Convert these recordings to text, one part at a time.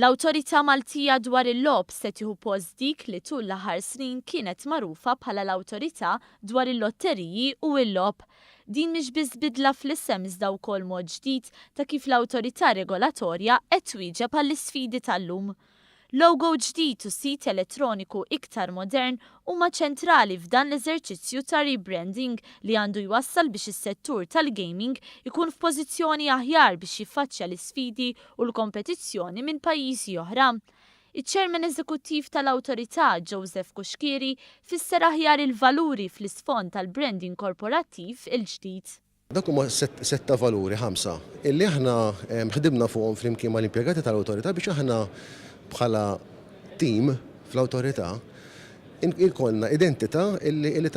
L-Awtorità Maltija dwar il-Logħob se tieħu post dik li tul l-aħħar snin kienet magħrufa bħala l-Awtorità dwar il-Lotteriji u l-Logħob. Din mhix biss bidla fl-isem iżda wkoll mod ġdid ta' kif l-awtorità regolatorja qed twieġeb għall-isfidi tal-lum. Logo ġdid u sit elettroniku iktar modern huma ċentrali f'dan l-eżerċizzju ta' rebranding li għandu jwassal biex is-settur tal-gaming ikun f'pożizzjoni aħjar biex jiffaċċja l-isfidi u l-kompetizzjoni minn pajjiżi oħra. Iċ-Chairman Eżekuttiv tal-Awtorità, Joseph Cuschieri, fisser aħjar il-valuri fl-isfond tal-branding korporattiv il-ġdid. Dawk huma sett ta' valuri, ħamsa, illi aħna ħdimna fuqhom flimkien mal-impjegati tal-Awtorità biex aħna bħala tim fl-Awtorità jkollna identità illi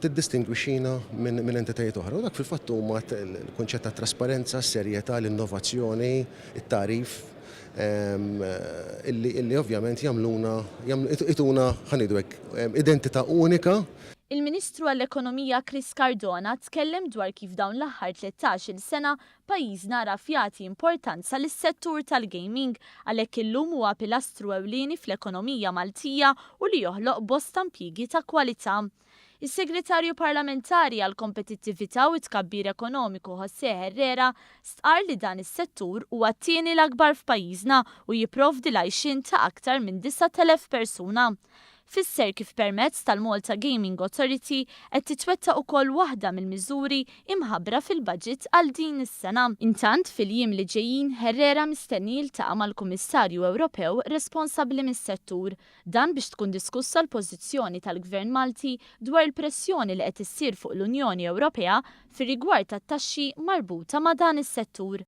tiddistingwixxina minn entitajiet oħra. U dak fil-fatt huma l-kunċett tat-trasparenza, s-serjetà, l-innovazzjoni, it-tagħrif illi ovvjament jagħmluna, ituna, ħa ngħidu hekk, identità unika. Il-Ministru għall-Ekonomija Chris Cardona tkellem dwar kif dawn l-aħħar tlettax-il sena pajjiżna għaraf jagħti importanza lis-settur tal-gaming għalhekk illum huwa pilastru ewlieni fl-ekonomija Maltija u li joħloq bosta mpjiegi ta' kwalità. Is-Segretarju Parlamentari għall-Kompetittività u t-Tkabbir Ekonomiku José Herrera stqarr li dan is-settur huwa t-tieni l-akbar f'pajjiżna u jipprovdi l-għajxien ta' aktar minn 9,000 persuna Fisser kif permezz tal-Malta Gaming Authority qed titwettaq ukoll waħda mill-miżuri imħabbra fil-baġit għal din is-sena. Intant, fil-jiem li ġejjin, Herrera mistenni jiltaqa' mal-Kummissarju Ewropew responsabbli mis-settur, dan biex tkun diskussa l-pożizzjoni tal-Gvern Malti dwar il-pressjoni li qed issir fuq l-Unjoni Ewropea fir-rigward tat-taxxi marbuta ma' dan is-settur.